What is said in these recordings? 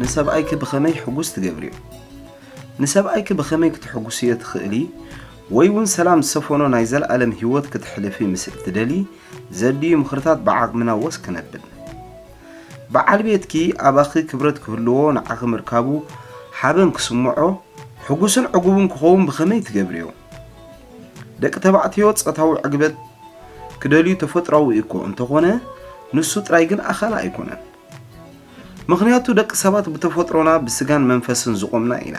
ንሰብኣይኪ ብኸመይ ሕጉስ ትገብርዮ? ንሰብኣይኪ ብኸመይ ክትሕጉስዮ ትኽእሊ ወይ እውን ሰላም ዝሰፈኖ ናይ ዘለኣለም ህይወት ክትሕልፊ ምስ እትደሊ ዘድልዩ ምኽርታት ብዓቕምና ወስ ክነብል በዓል ቤትኪ ኣባኺ ክብረት ክህልዎ ንዓኺ ምርካቡ ሓበን ክስምዖ ሕጉስን ዕጉብን ክኸውን ብኸመይ ትገብርዮ? ደቂ ተባዕትዮ ጸታዊ ዕግበት ክደልዩ ተፈጥራዊ እኮ እንተኾነ ንሱ ጥራይ ግን ኣኻሊ ኣይኮነን። ምኽንያቱ ደቂ ሰባት ብተፈጥሮና ብስጋን መንፈስን ዝቖምና ኢና።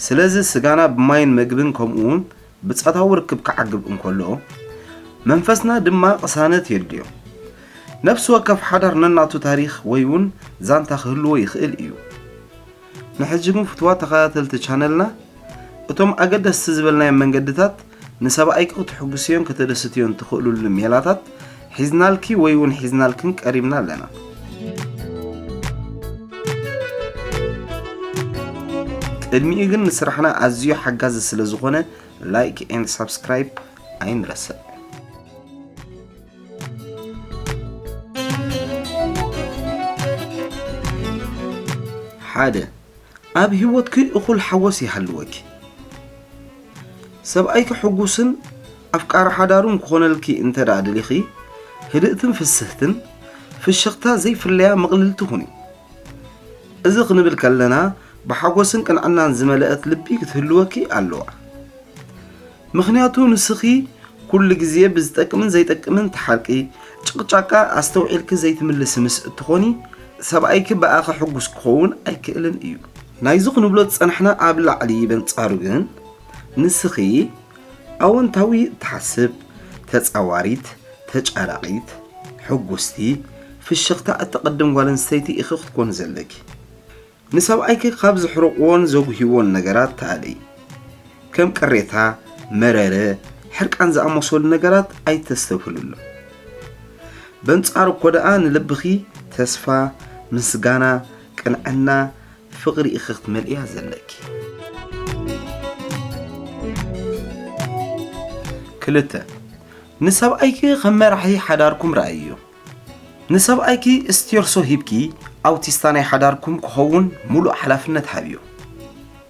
ስለዚ ስጋና ብማይን መግብን ከምኡውን ብጸታዊ ርክብ ክዓግብ እንከሎ መንፈስና ድማ ቅሳነት የድልዮ። ነፍሲ ወከፍ ሓዳር ነናቱ ታሪኽ ወይውን ዛንታ ክህልዎ ይኽእል እዩ። ንሕጂ ግን ፍቱዋት ተኸታተልቲ ቻነልና እቶም ኣገደስቲ ዝበልናዮም መንገድታት ንሰባኣይኪ ክተሕጉስዮን ከተደስትዮን ትኽእሉሉ ሜላታት ሒዝናልኪ ወይ ውን ሒዝናልክን ቀሪብና ኣለና። ቅድሚኡ ግን ንስራሕና ኣዝዩ ሓጋዚ ስለዝኾነ ላይክ ኤንድ ሳብስክራይብ ኣይንረስዕ። ሓደ ኣብ ህይወትኪ እኹል ሓጎስ ይሃልወኪ። ሰብኣይኪ ሕጉስን ኣፍቃሪ ሓዳሩን ክኾነልኪ እንተ ደኣ ደሊኺ፣ ህድእትን ፍስህትን ፍሽኽታ ዘይፍለያ ምቕልልቲ ኩኒ። እዚ ክንብል ከለና ብሓጎስን ቅንዕናን ዝመልአት ልቢ ክትህልወኪ ኣለዋ። ምኽንያቱ ንስኺ ኩሉ ግዜ ብዝጠቅምን ዘይጠቅምን ትሓርቂ፣ ጭቕጫቃ ኣስተውዒልኪ ዘይትምልሲ ምስ እትኾኒ ሰብኣይኪ ብኣኺ ሕጉስ ክኸውን ኣይክእልን እዩ። ናይዚ ክንብሎ ዝጸናሕና ኣብ ላዕሊ በንጻሩ ግን ንስኺ ኣወንታዊ እትሓስብ፣ ተጻዋሪት፣ ተጫራቒት፣ ሕጉስቲ፣ ፍሽኽታ እተቕድም ጓል ኣንስተይቲ ኢኺ ክትኮኒ ዘለኪ። ንሰብኣይኪ ካብ ዘሕርቑዎን ዘጉህይዎን ነገራት ተኣለዪ። ከም ቅሬታ፣ መረረ፣ ሕርቃን ዝኣመሰሉ ነገራት ኣይተስተብህሉሎም። በንጻሩ እኮ ደኣ ንልብኺ ተስፋ፣ ምስጋና፣ ቅንዕና፣ ፍቕሪ ኢኺ ክትመልእያ ዘለኪ። ክልተ፣ ንሰብኣይኪ ከም መራሒ ሓዳርኩም ረኣይዮ። ንሰብኣይኪ ስቴርሶ ሂብኪ ኣውቲስታ ናይ ሓዳርኩም ክኸውን ሙሉእ ሓላፍነት ሃብዮ።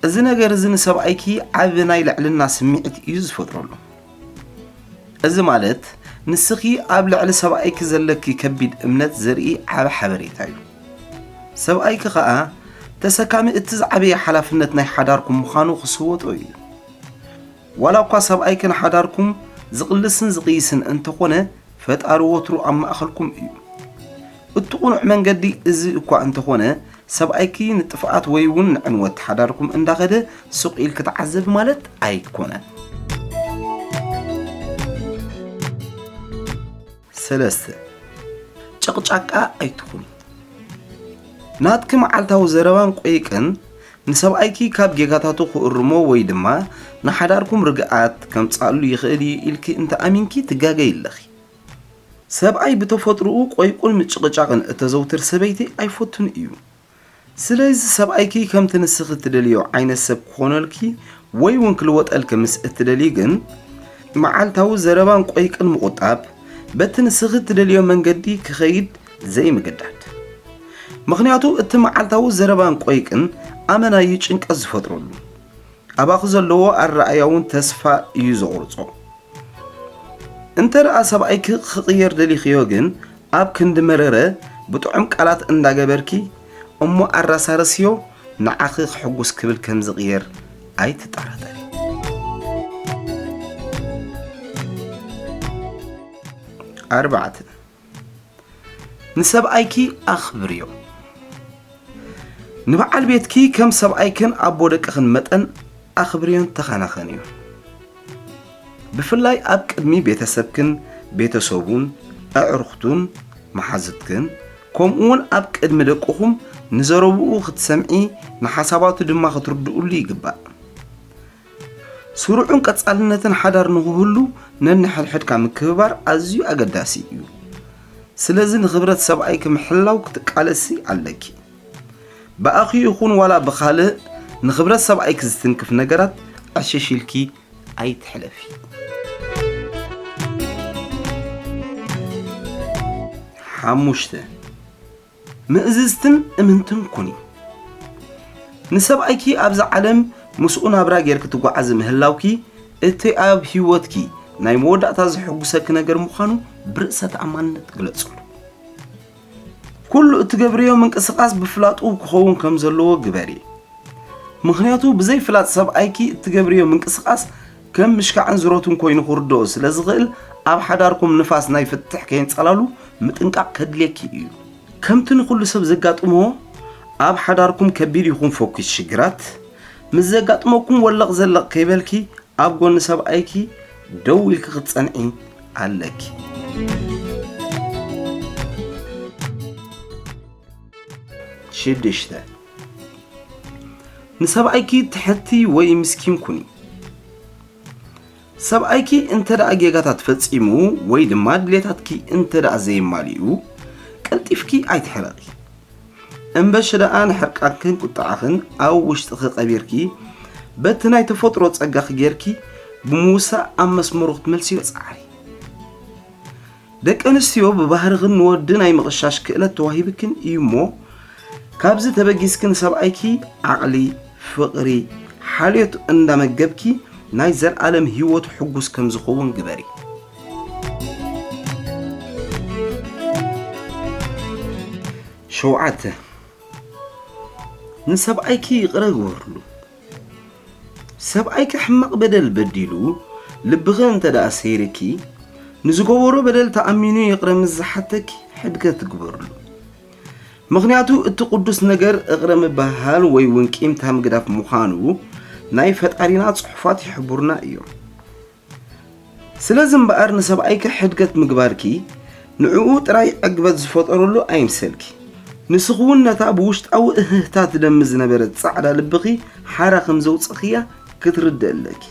እዚ ነገር እዚ ንሰብኣይኪ ዓቢ ናይ ልዕልና ስምዒት እዩ ዝፈጥረሉ። እዚ ማለት ንስኺ ኣብ ልዕሊ ሰብኣይኪ ዘለኪ ከቢድ እምነት ዘርኢ ዓቢ ሓበሬታ እዩ። ሰብኣይኪ ከኣ ተሰካሚ እቲ ዝዓበየ ሓላፍነት ናይ ሓዳርኩም ምዃኑ ክስወጦ እዩ። ዋላ እኳ ሰብኣይክን ሓዳርኩም ዝቕልስን ዝቕይስን እንተኾነ ፈጣሪ ወትሩ ኣብ ማእኸልኩም እዩ። እቱ ቁኑዕ መንገዲ እዚ እኳ እንተኾነ ሰብኣይኪ ንጥፍኣት ወይ እውን ንዕንወት ሓዳርኩም እንዳኸደ ሱቕ ኢልኪ ተዓዘቢ ማለት ኣይኮነን። ሰለስተ፣ ጨቕጫቃ ኣይትኹኒ። ናትኪ መዓልታዊ ዘረባን ቈይቅን ንሰብኣይኪ ካብ ጌጋታቱ ክእርሞ ወይ ድማ ንሓዳርኩም ርግኣት ከምጽኣሉ ይኽእል እዩ ኢልኪ እንተ ኣሚንኪ ትጋገዪ ኣለኺ። ሰብኣይ ብተፈጥሮኡ ቈይቁን ምጭቕጫቕን እተዘውትር ሰበይቲ ኣይፈቱን እዩ። ስለዚ ሰብኣይኪ ከምቲ ንስኺ እትደልይዮ ዓይነት ሰብ ክኾነልኪ ወይ እውን ክልወጠልኪ ምስ እትደልዪ ግን መዓልታዊ ዘረባን ቆይቅን ምቑጣብ በቲ ንስኺ እትደልዮ መንገዲ ክኸይድ ዘይምግዳድ ምክንያቱ እቲ መዓልታዊ ዘረባን ቆይቅን ኣመና እዩ ጭንቀት ዝፈጥረሉ ኣባኺ ዘለዎ ኣረኣያ እውን ተስፋ እዩ ዘቑርጾ እንተ ደኣ ሰብኣይኪ ክቕየር ደሊኽዮ ግን ኣብ ክንዲ መረረ ብጥዑም ቃላት እንዳገበርኪ እሞ ኣራሳርስዮ ንዓኺ ክሕጉስ ክብል ከም ዝቕየር ኣይትጠራጠሪ። ኣርባዕተ ንሰብኣይኪ ኣኽብርዮ። ንበዓል ቤትኪ ከም ሰብኣይክን ኣቦ ደቅኽን መጠን ኣኽብርዮን ተኸናኸንዮ። ብፍላይ ኣብ ቅድሚ ቤተሰብክን ቤተሰቡን፣ ኣዕሩኽቱን መሓዙትክን፣ ከምኡ'ውን ኣብ ቅድሚ ደቅኹም ንዘረብኡ ክትሰምዒ ንሓሳባቱ ድማ ክትርድእሉ ይግባእ። ስሩዕን ቀጻልነትን ሓዳር ንኽህሉ ነንሕድሕድካ ምክብባር ኣዝዩ ኣገዳሲ እዩ። ስለዚ ንኽብረት ሰብኣይኪ ምሕላው ክትቃለሲ ኣለኪ። ብኣኺ ይኹን ዋላ ብኻልእ ንኽብረት ሰብኣይኪ ዝትንክፍ ነገራት ዕሽሽ ኢልኪ ኣይትሕለፊ። ሓሙሽተ፣ ምእዝዝትን እምንትን ኩኒ። ንሰብኣይኪ ኣብዚ ዓለም ምስኡ ናብራ ጌርኪ ትጓዓዚ ምህላውኪ እቲ ኣብ ህይወትኪ ናይ መወዳእታ ዘሐጉሰኪ ነገር ምዃኑ ብርእሰ ተኣማንነት ግለጽሉ። ኩሉ እትገብርዮ ምንቅስቃስ ብፍላጡ ክኸውን ከም ዘለዎ ግበሪ ምኽንያቱ ብዘይ ፍላጥ ሰብኣይኪ እትገብርዮ ምንቅስቃስ ከም ምሽካዕን ዝሮትን ኮይኑ ክርድኦ ስለ ዝኽእል ኣብ ሓዳርኩም ንፋስ ናይ ፍትሕ ከየንጸላሉ ምጥንቃቕ ከድልየኪ እዩ ከምቲ ንኹሉ ሰብ ዘጋጥሞ ኣብ ሓዳርኩም ከቢድ ይኹን ፈኲስ ሽግራት ምስ ዘጋጥመኩም ወለቕ ዘለቕ ከይበልኪ ኣብ ጎኒ ሰብኣይኪ ደው ኢልኪ ክትጸንዒ ኣለኪ። ንሰብኣይኪ ትሐቲ ወይ ምስኪን ኩኒ። ሰብኣይኪ እንተ ጌጋታት ፈጺሙ ወይ ድማ ድሌታትኪ እንተ ዘየማሊኡ ቀልጢፍኪ ኣይትሕረቒ። እምበሺ ደኣ ንሕርቃንክን ቁጥዓኽን ኣብ ውሽጥኺ ቀቢርኪ በቲ ናይ ተፈጥሮ ጸጋኺ ጌርኪ ብምውሳእ ኣብ መስመሩ ክትመልስዮ ጻዕሪ። ደቂ ኣንስትዮ ብባህርኽን ንወዲ ናይ ምቕሻሽ ክእለት ተዋሂብክን እዩ እሞ ካብዚ ተበጊስኪ ንሰብኣይኪ ዓቕሊ፣ ፍቕሪ፣ ሓልዮት እንዳመገብኪ ናይ ዘልኣለም ህይወቱ ሕጉስ ከም ዝኸውን ግበሪ። ሸውዓተ፣ ንሰብኣይኪ ይቕረ ግበርሉ። ሰብኣይኪ ሕማቕ በደል በዲሉ ልብኺ እንተ ደኣ ሰይርኪ፣ ንዝገበሮ በደል ተኣሚኑ ይቕረ ምስ ዝሓተኪ ሕድገት ግበርሉ። ምኽንያቱ እቲ ቅዱስ ነገር እቕረ ምብህሃል ወይ እውን ቂምታ ምግዳፍ ምዃኑ ናይ ፈጣሪና ጽሑፋት ይሕብሩና እዮም። ስለዚ እምበኣር ንሰብኣይኪ ሕድገት ምግባርኪ ንዕኡ ጥራይ ዕግበት ዝፈጠረሉ ኣይምሰልኪ። ንስኺ'ውን ነታ ብውሽጣዊ እህህታ ትደሚ ዝነበረት ጻዕዳ ልብኺ ሓራ ከም ዘውጸእክያ ክትርድኢ ኣለኪ።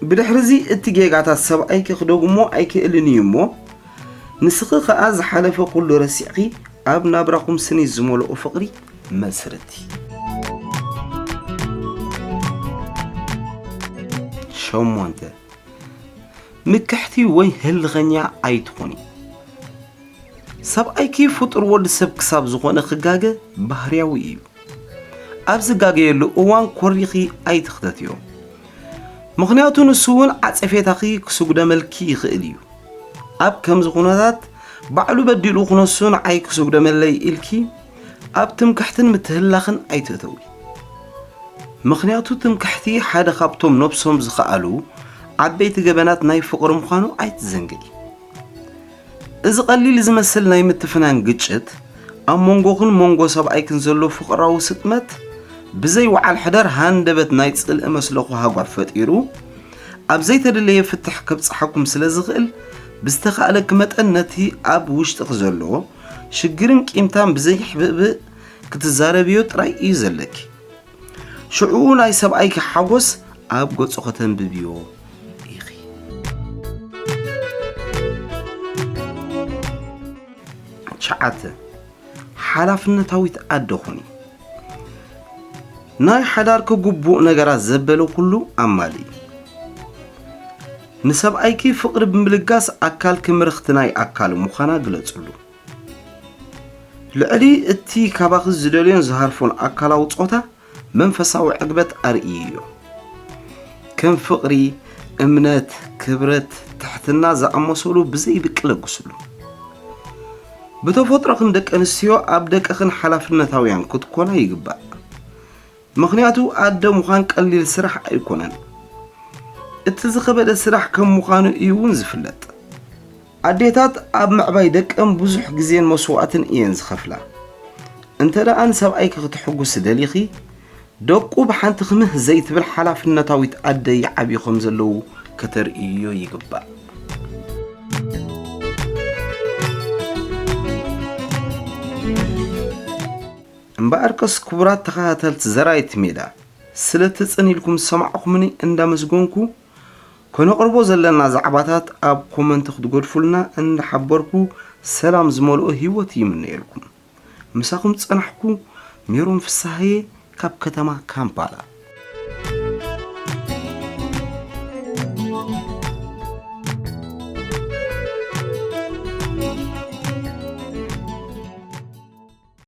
ብድሕሪ'ዚ እቲ ጌጋታት ሰብኣይኪ ክደግሞ ኣይክእልን እዩ እሞ፣ ንስኺ ከኣ ዝሓለፈ ኩሉ ረሲዕኪ ኣብ ናብራኹም ስኒት ዝመልኦ ፍቕሪ መስርት። ሸሞንተ፣ ምክሕቲ ወይ ህልኸኛ ኣይትኹኒ። ሰብኣይኪ ፍጡር ወዲ ሰብ ክሳብ ዝኾነ ክጋገ ባህርያዊ እዩ። ኣብ ዝጋገየሉ እዋን ኮሪኺ ኣይትኽተትዮ። ምኽንያቱ ንሱ እውን ዓጸፌታኺ ክስጉደመልኪ ይኽእል እዩ። ኣብ ከምዚ ኩነታት ባዕሉ በዲሉ ክነሱ ንዓይ ክስጉደመለይ ኢልኪ ኣብ ትምክሕትን ምትህልላኽን ኣይትእተዊ። ምኽንያቱ ትምክሕቲ ሓደ ካብቶም ነብሶም ዝኸኣሉ ዓበይቲ ገበናት ናይ ፍቕሪ ምዃኑ ኣይትዘንግዒ። እዚ ቀሊል ዝመስል ናይ ምትፍናን ግጭት ኣብ መንጎኽን መንጎ ሰብኣይክን ዘሎ ፍቕራዊ ስጥመት ብዘይ ወዓል ሕደር ሃንደበት ናይ ጽልኢ መስለኹ ሃጓፍ ፈጢሩ ኣብ ዘይተደለየ ፍትሕ ከብጽሓኩም ስለ ዝኽእል ብዝተኻእለኪ መጠን ነቲ ኣብ ውሽጥኺ ዘሎ ሽግርን ቂምታን ብዘይሕብእብእ ክትዛረብዮ ጥራይ እዩ ዘለኪ። ሽዑኡ ናይ ሰብኣይኪ ሓጎስ ኣብ ገጹ ከተንብብዮ ኢኺ። ትሽዓተ ሓላፍነታዊት ኣደ ኹኒ። ናይ ሓዳርኪ ግቡእ ነገራት ዘበለ ኩሉ ኣማልኢ። ንሰብኣይኪ ፍቕሪ ብምልጋስ ኣካልኪ ምርኽቲ ናይ ኣካሉ ምዃና ግለጽሉ። ልዕሊ እቲ ካባኺ ዝደልዮን ዝሃርፎን ኣካላዊ ጾታ መንፈሳዊ ዕግበት ኣርእይዮ። ከም ፍቕሪ፣ እምነት፣ ክብረት፣ ትሕትና ዝኣመሰሉ ብዘይብቂ ለግስሉ። ብተፈጥሮኽን ደቀንስትዮ ኣብ ደቅኽን ሓላፍነታውያን ክትኮና ይግባእ። ምኽንያቱ ኣደ ምዃን ቀሊል ስራሕ ኣይኮነን። እቲ ዝኸበደ ስራሕ ከም ምዃኑ እዩ እውን ዝፍለጥ። ኣዴታት ኣብ ምዕባይ ደቀን ብዙሕ ግዜን መስዋእትን እየን ዝኸፍላ። እንተደኣ ንሰብኣይኪ ክተሕጉሲ ደሊኺ፣ ደቁ ብሓንቲ ክምህ ዘይትብል ሓላፍነታዊት ኣደ ይዓብዩ ከም ዘለዉ ከተርእይዮ ይግባእ። እምበኣርከስ ክቡራት ተኸታተልቲ ዘራይቲ ሜዳ ስለቲ ጽን ኢልኩም ዝሰማዕኩምኒ እንዳመስገንኩ ከነቕርቦ ዘለና ዛዕባታት ኣብ ኮመንቲ ክትገድፉልና እንዳሓበርኩ ሰላም ዝመልኦ ሂወት ይምነየልኩም። ምሳኹም ዝጸናሕኩ ሜሮን ፍስሃየ ካብ ከተማ ካምፓላ።